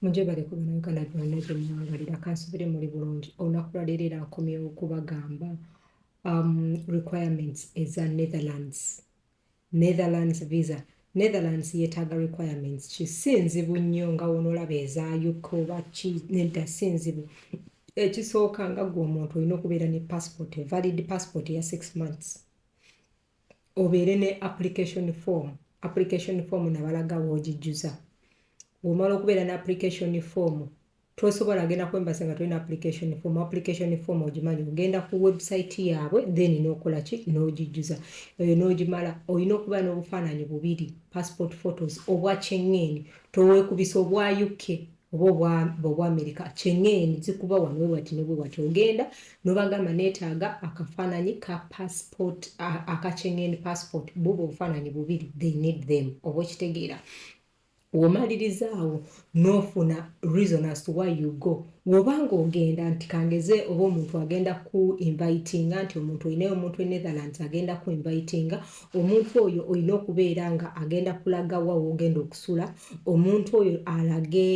mujje bali ku bino uganda byonna gye mwabalira kansubire muli bulungi olunaku lwaleero era nkomyewo okubagamba um, requirements eza netherlands Netherlands visa Netherlands yetaaga requirements ki si nzibu nnyo nga wonolaba eza UK oba ki nedda si nzibu ekisooka nga gwe omuntu olina okubeera ne passport valid passport ya six months obeere ne application form application form nabalaga woogijjuza womala okubeera ne application form tosobola agenda kwembasa nga tolina application form application form ogimanyi ogenda ku website yaabwe then nokola ki nogijjuza eyo nogimala olina okuba n'obufaananyi bubiri passport photos obwa kyeŋŋeeni towekubisa obwa uk oba obwa amerika kyeŋŋeeni zikuba wano wewati newewati ogenda nobagamba neetaaga akafaananyi ka passport aka kyeŋŋeeni passport buba obufaananyi bubiri they need them oba okitegeera Womaliriza awo nofuna reason as to why you go woba nga ogenda nti kangeze oba omuntu agenda kuku invitinga nti omuntu olinayo omuntu e Netherlands agenda kuku invitinga omuntu oyo olina okubeera nga agenda kulaga wa wogenda okusula omuntu oyo alage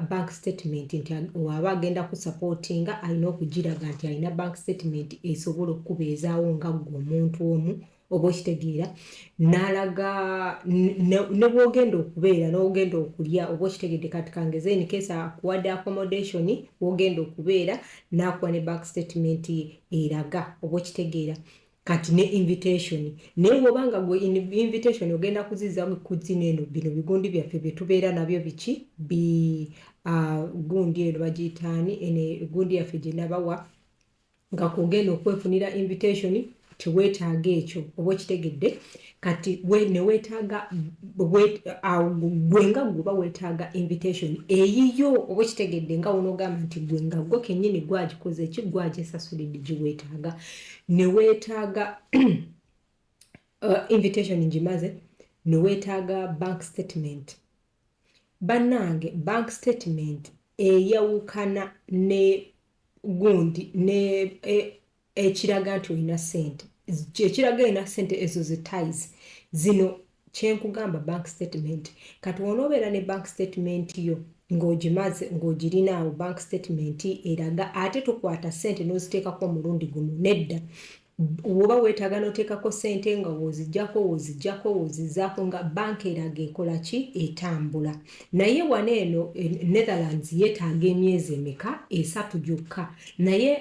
bank statement nti waba agenda ku supportinga alina okugiraga nti alina bank statement esobola okukubeezaawo nga gwe omuntu omu oba okitegeera nalaga ne bwogenda okubeera nogenda okulya oba okitegedde kati kangeze in case akuwadde accommodation wogenda okubeera nakuwa ne back statement ye eraga oba okitegeera kati ne invitation naye bwoba nga gwe invitation ogenda kuziza kuzina eno bino bigundi byaffe byetubeera nabyo biki bi uh, gundi eno bagiyitaani ene gundi yaffe gyenabawa nga kwogenda okwefunira invitation tewetaaga ekyo oba okitegedde kati we newetaaga gwe nga gwoba wetaaga invitation eyiyo oba okitegedde nga wonogamba nti gwe nga gwe kenyini gwagikoze eki gwajesasulidde giwetaaga newetaaga uh, invitation ngimaze newetaaga bank statement banange bank statement eyawukana ne gundi ne e, ekiraga nti olina sente ekiraga olina sente ezo ze ties zino kyenkugamba bank statement kati wonoobeera ne bank statement yo ng'ogimaze ng'ogirinaawo bank statement eraga ate tokwata sente n'oziteekako omulundi gumu nedda Woba wetaaga noteekako sente nga wozijako wozijako wozizaako nga bank eraga ekola ki etambula naye wano eno e Netherlands yetaaga emyezi emeka esatu gyokka naye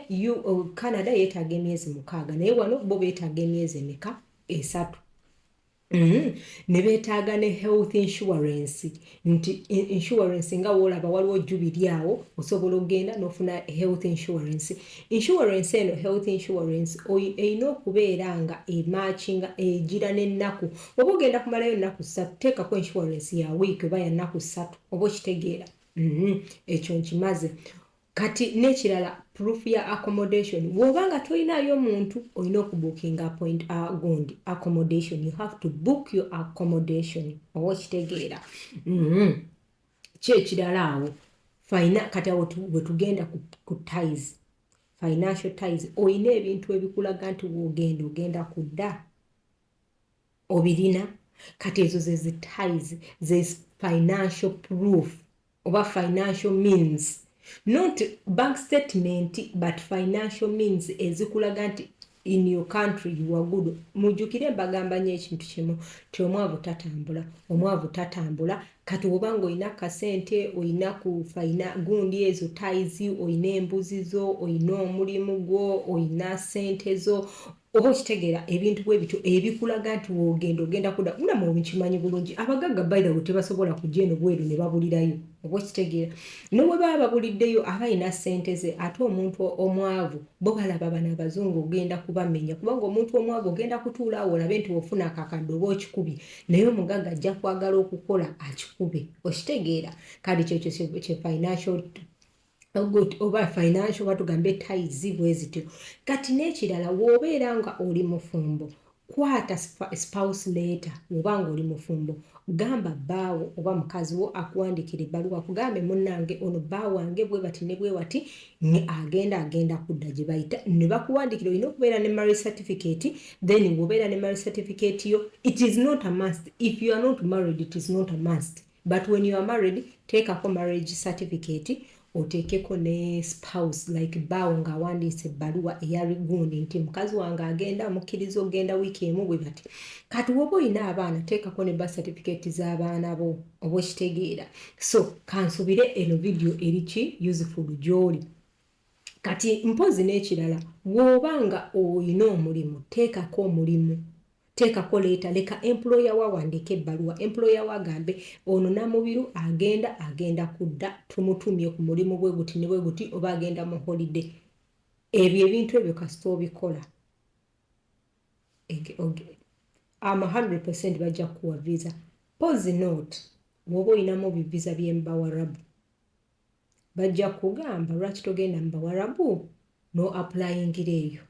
u Canada yetaaga emyezi mukaaga naye wano bo betaaga emyezi emeka esatu. Mm, ne beetaaga ne health insurance nti insurance nga woolaba waliwo jubiri awo osobola okugenda n'ofuna health insurance insurance eno health insurance erina okubeera nga emakinga egira n'ennaku oba ogenda kumalayo ennaku ssatu teekako insurance ya wiiki oba ya nnaku ssatu oba okitegeera mm-hmm. ekyo nkimaze Kati nekirala proof ya accommodation woba nga toyinayo muntu oyina oku booking appoint a gundi accommodation you have to book your accommodation oba okitegeera mm-hmm. kyekirala awo fina kati awo wetugenda ku ties financial ties oyina ebintu ebikulaga nti wogenda ogenda kudda obirina kati ezo zezi ties zes financial proof oba financial means not bank statement but financial means ezikulaga nti in your country you are good mujukire mbagamba nyo ekintu kimu ti omwavu tatambula omwavu tatambula kati woba nga olina kasente olina ku faina gundi ezo taizi olina embuzi zo olina omulimu gwo olina sente zo Oba okitegeera ebintu bwebityo ebikulaga nti wogenda ogenda kuda muna mwe mukimanyi bulungi abagagga by the way tebasobola kujja eno bweru nebabulirayo oba okitegeera newebaba babuliddeyo aba alina sente ze ate omuntu omwavu bo balaba bano abazungu ogenda kubamenya kubanga omuntu omwavu ogenda kutuula awo olabe nti wofuna akakadde oba okikubye naye omugagga ajja kwagala okukola akikube okitegeera kale kyekyo kye financial good oba financial oba tugambe taizi bwe zityo kati n'ekirala w'obeera nga oli mufumbo kwata spouse leeta oba nga oli mufumbo gamba bbaawo oba mukazi wo akuwandikira ebbaluwa kugambe munnange ono bba wange bwe bati ne bwe wati ne agenda agenda kudda gye bayita ne bakuwandikira olina okubeera ne marry certificate then wobeera ne marry certificate yo it is not a must if you are not married it is not a must But when you are married teekako marriage certificate oteekeko ne spouse like bbaawo ng'awandiise ebbaluwa eya rigundi nti mukazi wange agenda mukkiriza okugenda wiiki emu bwe bati kati woba olina abaana teekako ne ba certificate z'abaana bo oba okitegeera so kansubire eno vidiyo eriki useful gy'oli kati mpozi n'ekirala woba nga olina omulimu teekako omulimu Teekako leeta, leka employer wo awandiike ebbaluwa, employer wo agambe ono Namubiru agenda, agenda kudda, tumutumye ku mulimu bwe guti ne bwe guti oba agenda mu holiday. Ebyo ebintu ebyo kasita obikola am 100 percent bajja kukuwa visa pose not woba olinamu bivisa byemubawarabu bajja kugamba lwaki togenda mubawarabu no aplayingira eyo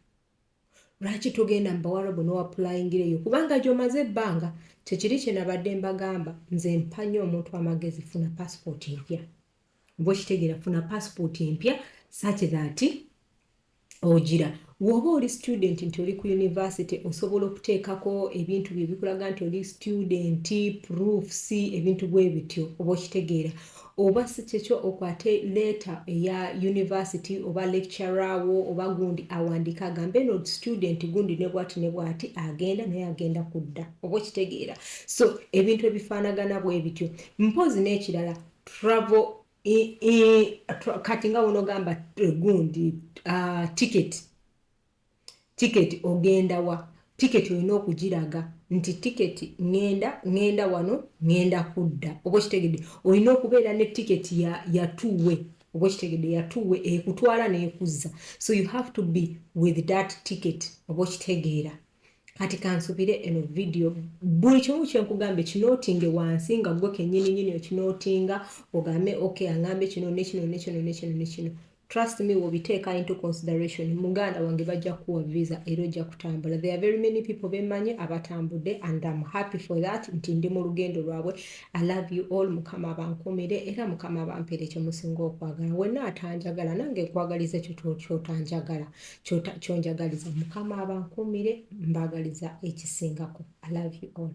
lwaki togenda mu bawarabu nowapulayingira eyo kubanga gyomaze ebbanga kyekiri kyenabadde mbagamba nze mpanya omuntu amagezi funa pasipooti empya oba okitegera funa pasipooti empya saki thati ogira woba oli student nti oli ku univesity osobola okuteekako ebintu byebikulaga nti oli student proofs ebintu bwe bityo oba okitegeera Oba si kyekyo okwate letter eya university oba lecturer wo oba gundi awandiike agambe eno student gundi ne bwati ne bwati agenda naye agenda kudda. Oba okitegeera. So ebintu ebifaanagana bwe bityo. Mpozzi n'ekirala travel kati nga bw'onoogamba gundi uh, ticket Ticket ogenda wa? Ticket olina okugiraga nti ticket ŋŋenda, ŋŋenda wano, ŋŋenda kudda. Oba okitegedde? Olina okubeera ne ticket ya, ya two way. Oba okitegedde? Ya two way, ekutwala n'ekuzza. So you have to be with that ticket. Oba okitegeera? Kati kansubire eno video buli kimu kye nkugambye kinootinge wansi nga ggwe kennyininyini okinootinga ogambe okay angambye kino ne kino ne kino ne kino ne kino. Trust me wobiteeka into consideration muganda wange bajja kuwa visa era ojja kutambula. There are very many people bemanyi abatambudde and I'm happy for that nti ndi mu lugendo lwabwe. I love you all mukama abankumire era mukama abampere kye musinga okwagala. Wenna atanjagala nange nkwagaliza ekyo kyotanjagala kyonjagaliza mukama abankumire mbagaliza ekisingako. I love you all.